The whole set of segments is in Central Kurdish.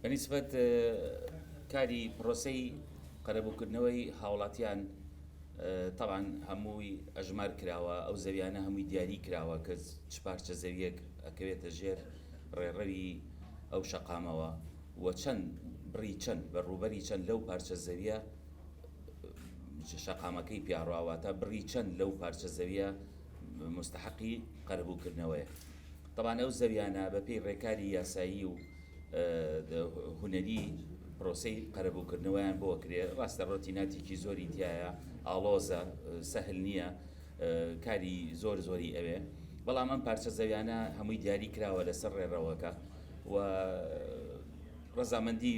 بە نیسبەت کاری پرۆسەی قەرەبووکردنەوەی هاوڵاتیان تەبان هەمووی ئەژمار کراوە ئەو زەویانە هەمووی دیاری کراوە کە چ پارچە زەویەک ئەکەوێتە ژێر ڕێڕەوی ئەو شەقامەوە و چەند بڕی چەند بە ڕووبەری چەند لەو پارچە زەویە شەقامەکەی پیاڕواواتە بڕی چەند لەو پارچە زەویە مستحقی قەربووکردنەوەیە تەبان ئەو زەویانە بەپی ڕێکاری یاسایی و هونەری پرۆسەی قەرەبووکردنەوەیان بۆ کرێ ڕاستە ڕۆتی ناتێکی زۆری تایە ئاڵۆزە سەهل نییە کاری زۆر زۆری ئەوێ بەڵام ئەم پارچە زەویانە هەمووی دیاری کراوە لەسەر ڕێڕەوەکە و ڕزامەندی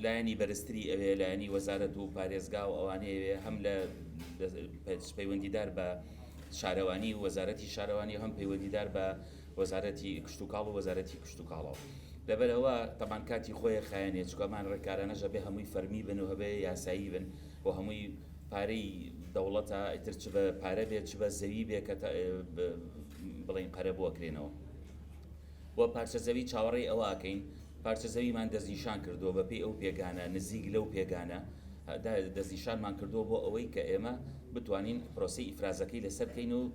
لایەنی بەرزتری ئەوێ لایەنی وەزارەت و پارێزگا و ئەوانەیەوێ هەم لە پەیوەندیدار بە شارەوانی وەزارەتی شارەوانی هەم پەیوەندیدار بە وەزارەتی کشتوکاڵ و وەزارەتی کشتوکاڵەوە لەبەر ئەوە تەبان کاتی خۆیە خایەنێ چکۆمان ڕێکارانەش هەبێ هەمووی فەرمی بن و هەبێ یاسایی بن و هەمووی پارەی دەوڵەتە ئیتر چ بە پارە بێت چ بە زەوی بێ کە بڵین قەرە بووە کرێنەوە و پارچە زەوی چاوەڕێی ئەوواکەین پارچە زەویمان دەستنیشان کردووە بەپی ئەو پێگانە نزیک لەو پێگانە دەستنیشانمان کردووە بۆ ئەوەی کە ئێمە بتوانین پرۆسی ئیفرازەکەی لەسەر بکەین و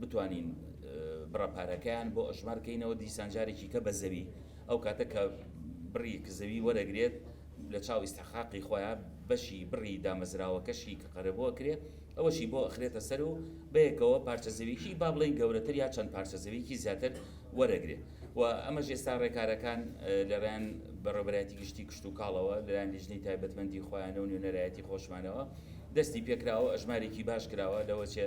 بتوانین بڕە پارەکەیان بۆ ئەژمار کەینەوە دیسان جارێکی کە بە زەوی ئەو کاتە کە بڕی کە زەوی وەرەگرێت لە چاو ئیستحقاقی خۆیان بەشی بڕی دامەزراوەکەشی کە قەرەبووە کرێ ئەوەشی بۆ ئەخرێتە سەر و بەیەکەوە پارچە زەویکی با بڵێن گەورەتر یا چەند پارچە زەویکی زیاتر وەرەگرێت و ئەمە ژێستا ڕێکارەکان لەرەن بەڕێبەرایەتی گشتی کشت و کاڵەوە لەیان لیژنەی تایبەتمەندی خۆیانە و نوێنەرایەتی خۆشمانەوە دەستی پێکراوە ئەژمارێکی باش کراوە لەوەچێ